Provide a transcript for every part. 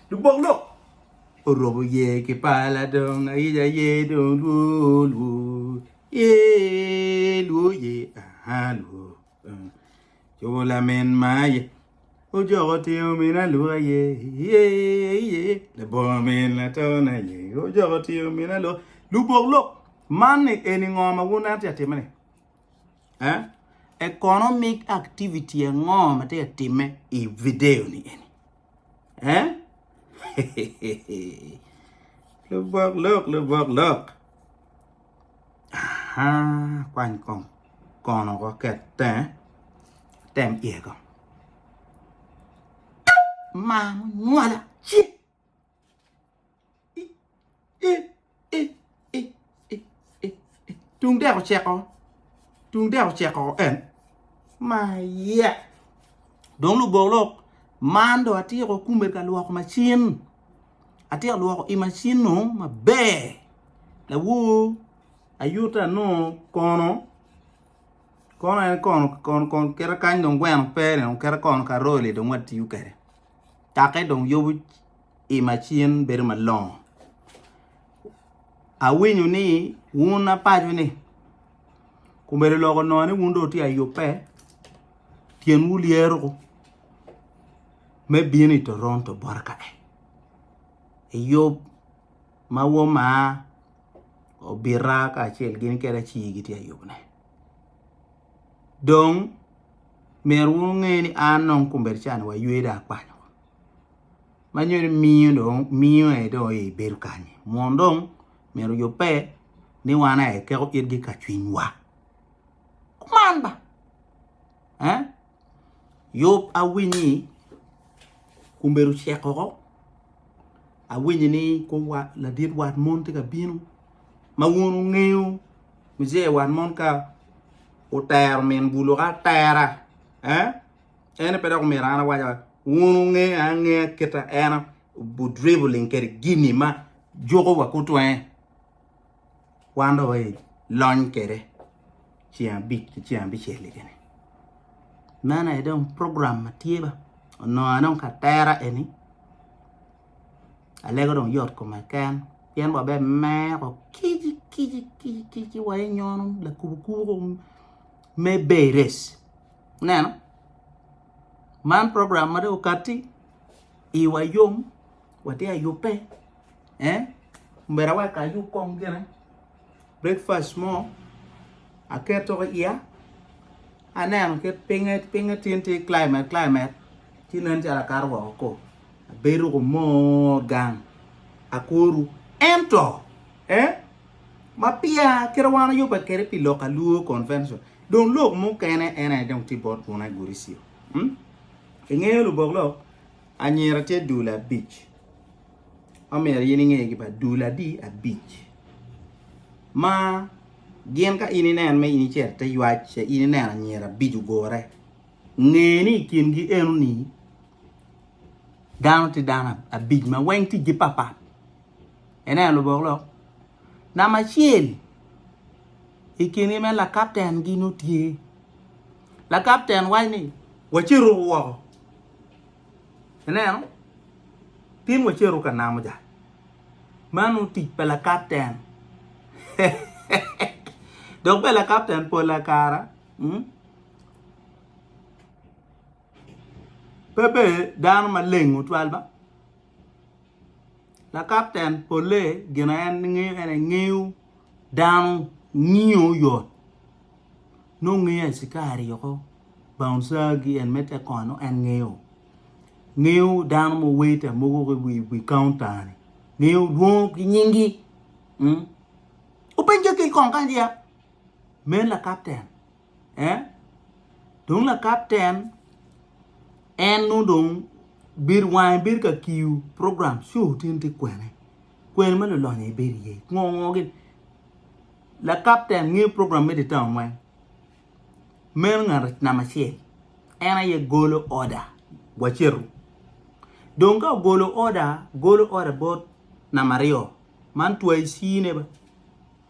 Lubok lok orobo ye ki pala dong ayica ye dong lwo lwo ye lwo ye aha lwo Cobo lamin maye ojoko tyeng omine aluka ye ye ye labongo omin latona ye ojoko tyeng omine aluka lubok lok man ni eni ngo ma wun atye atime ni eh economic activity ango ma tye ka timme i video ni eni eh lubok lok lubok lok Kwany kong kono wek oket tenge, tem iye kong. Maa munywala ci tung dek oceko, tung dek oceko en maa iye. Dong lubok lok man dong atyeko kume ka lwok macin. atye ka lwoko i macin-nu maber lawor ayutta anongo kono kono en kono kono kite kany dong gweno peni dong kite kono karole dong watiyo kwede kakke dong yubu i macin bedo malongo awinyo ni wun apaco ni obedo lok onongo ni wun dong wutye ka yubbe. Tyenwu lyero me bino i Toronto bota ka e. Eyub ma woma obita kacel gin kede aci gitye ayubne. Dong myero wunge ni an dong kombeddi cani waywe dong akwanyo. Ma nyo ni miyo dong miyo aye dong aye ibedo kany. Mun dong myero yubbe ni wan aye keko itgi ka cwinywa. kuman ba eh yub awinyi kumbedo cek oko awinyi ni ko wat ladit wat mon tye ka bino ma wun wungeyo muje wat mon ka otero min bulu ka atera eh ene pe dok omyero an awaca wun wunge angeya kita eno bu dribbling kede gini ma juko wa kutwenge wan dong waye lony kede ceng abic ki ceng abicel kene man aye dong program ma tye ba onongo aye dong ka tera eni alego dong yot kome keken pien wa bene meko kici kici kici kici wa inyono lakubo kubo kong me bay race ineno man program ma dong okati iwa yom watye ka yubbe eh omera wek ayub kong gine breakfast mo aketo i iya aneno kit pinye pinye tin tye climate climate ci nen calo akato woko kor abedo ko mor gang akoru ento eh ma peya kite ma wan wayubbe kwede pi lok alur convention dong lok mukene en aye dong tye bot buna i gudi ci. I ngeyo lubok lok anyira tye dul abic ma myero in ingegi bene dul adi abic ma gin ka in ineno ma in icito ite ywac ce in ineno anyira abic ogure nge ni i kingi eno ni dano tye dano abic ma weng ticgi pat pat ineno lubok lok namba acel i kingi meno lakapten gi nongo tye Lakapten waco ni, Waceto woko. Ineno? Tin waceto ka namo ja. Mano tic pa lakapten. Dok bene lakapten pol la kara hmm? pe bedo dano maleng tutwal ba. La kapten polle gin aye en ngeyo en aye ngeyo dano ngiyo oyot nongo ngeyo acikari oko baunca gi en me te kono en ngeyo ngeyo dano ma waita mogo iwi kaunta ni ngeyo lwongo ki nyingi openca kec kong kanya me la kapten eh? Dong lakat en, en nongo dong bedo wange bedo ka kiyo program sure tin ti kwene. Kwene ma lulonyo i bedo iye. Ngo ngo gin. La captain ngeyo program me di town weng. Meno ngat nama acel. En aye golo order waceto. Dong ka ogolo order, golo order bot nama aryo. Man twa i sine ba.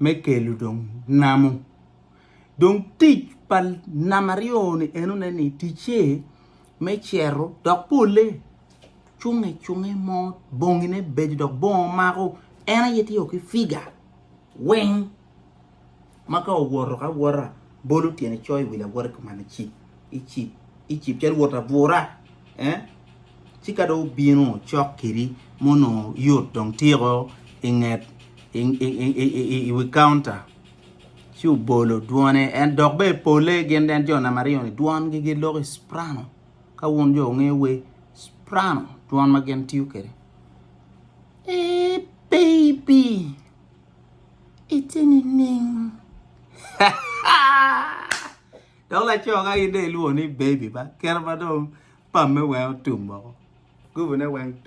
me kelo dong namo. Dong tic pa namba aryo ni enone ni ticce me cero dok pole cunge cunge mo bongine bedo dok bongo mako en aye tye ki figa weng ma ka owoto ka wota bolo tyene coyo i wi lawote kuman icip. i cip calo wot abura ci ka dong obino cok kedi ma onongo yot dong tiko inget iwi kaunta ci obolo dwone en dok bene pole gin en jo namaryo ni dwongi giloko i ciprano ka wun jo wungeyo wer ciprano dwon ma gin tiyo kwede eeh baby ite nining Dok laco ka in dong ilwongo ni baby ba kit ma dong pamme weng otum woko. Gubine weng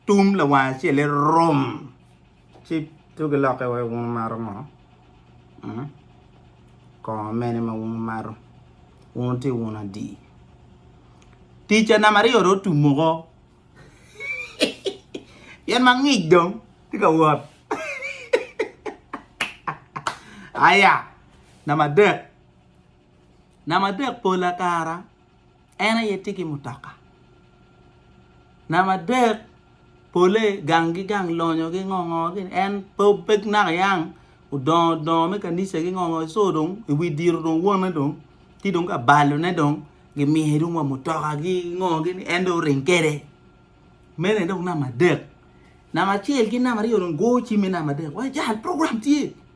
tum lawang acel-le rum ci tugi lokke wai wun wumato ngo? Hmm? Kongo mene ma wun wumato? Wun wuti wun adi? Tica namba aryo dong otum woko. Pien ma ngic dong tye ka wot. Aya! Namba adek, namba adek pola kara en aye tye ki mutoka. Namba adek pole gang ki gang lonyo ki ngo ngo gini en pe pe naka yang odongo dongo me kanisa ki ngo ngo so dong i wi diro dong wone dong ci dong ka balone dong gimiye dong wa mutoka ki ngo gini en dong oring kwede mene dong namba adek. Namba acel ki namba aryo dong go cimme namba adek wai jal program tye.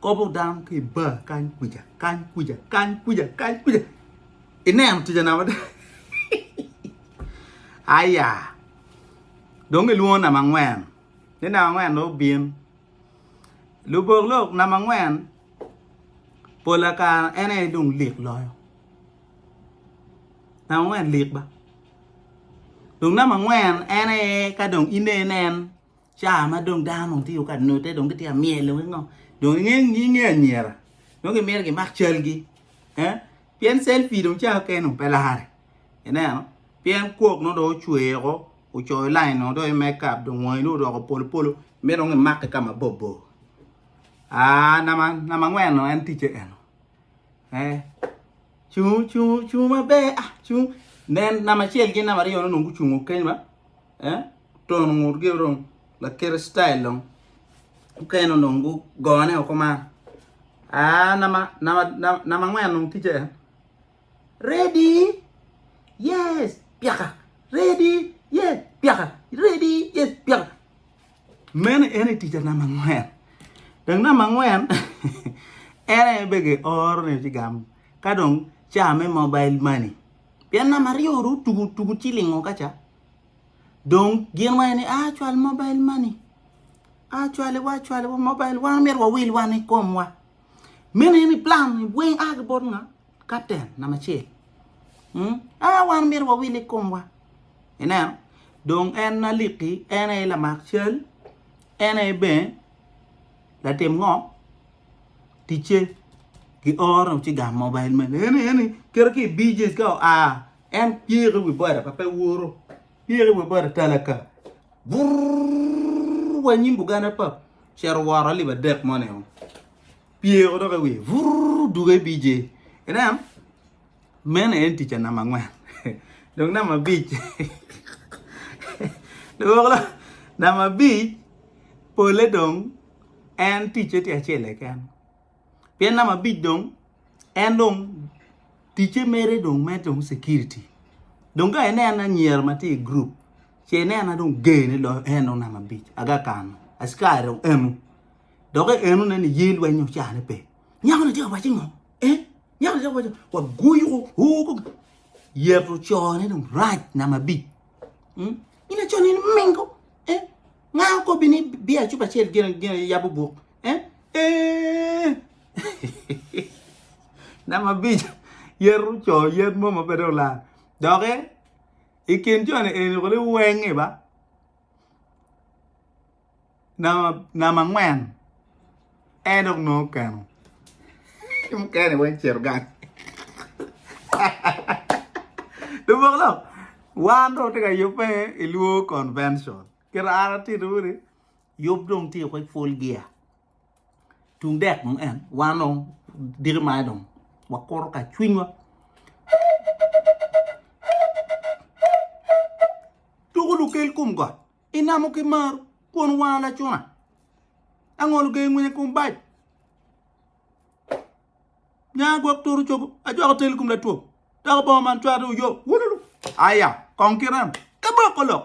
Kobo dano ki i bar kany kwica, kany kwica, kany kwica, kany kwica. Ineno tica na mada. Aya. Dong ilwongo namba angwen. Ni namba angwen dong obin. Lubok lok namba angwen pola kara en aye dong lik loyo. Namba angwen lik ba. Dong namba angwen en aye ka dong inen en Ca ma dong dano dong tye ka note dong gitye ka myelo ki ngo dong inge inge anyira dong gimito gimak calgi eh pien selfie dong ca keken dong pe lare ineno pien kwok nongo dong ocwer woko ocoyo lain nongo dong i makeup dong wangi dong odoko polo polo myero dong imake ka mabor bor aah namba namba angwen dong en ticce eno eh cung cung cung maber ah cung nen namba acel ki namba aryo ni dong gucungo keny ma eh. tono ngutgi dong lakite citayil dong mukene onongo gugone woko ma aa namba namba angwen dong ticce ready yes pyaka ready yes pyaka ready yes pyaka meno en aye ticca namba angwen dong namba angwen en aye bene gioro ni ci gamo ka dong ca me mobile money pien namba aryo dong otugo tugo cilingo ka ca Dong gin wang ni a cwal mobile money. A cwale wa cwale wa mobile wang mer wa wil wan i kom wa. Mene ni plan ni weng a gibot nga captain na macel. Hmm? A wan mer wa wil i kom wa. Ineno? Dong en na liki, en e lamak cal, en e ben, latim ngo, tice, ki oro ci gam mobile money. Eni, eni, kere ki BJs ka o a, En pyero i wi bota pa pe woro, pyero i wi bota tala ka. Burr wa nyim bugana pa cito woro alip adek mo neo. Pyero dok i wiye. Burr duge i BJ. Ineno? Meno en tica namba angwen. Dong namba abic. Lubokla namba abic pole dong en ticce tye acel keken. Pien namba abic dong en dong ticce mere dong me dong security. Dong ka ineno anyira ma tye i group, ce ineno dong ger ni lo en dong namba abic aga kano. Askari dong eno. Dok eno ne ni ye lweny ocane pe. Nyako ni tye ka waci ngo? Eh? Nyako ni tye ka waci wa guyo ko yeto cone dong rac namba abic. Hmm? Ina cone ni mingo. Eh? Nga okobbi ni biya cup acel gin gin yabo buk. Namba abic, yeto co yen mo ma pe dong olal doki i kin joni eni kulu iwenge ba. Namba angwen, en dong nongo okeno ki mukene weng ocito gang labongo lok wan dong watye ka yubbe ilwongo convention kit ma an atito ni. Yub dong tye kwe pwol gia. Tung dek dong en, wan dong diki maye dong wakuto ka cwinywa. Tuku lukel kum got, inamo ki maru, kwon wanga lacuna. Angolo gee ngwinye kum bac. Nya gwok turu cogo, ajwako tel kum latwom. Dako bongo man cwate uyo, wululu. Aya, kong kiram, kaboko lok.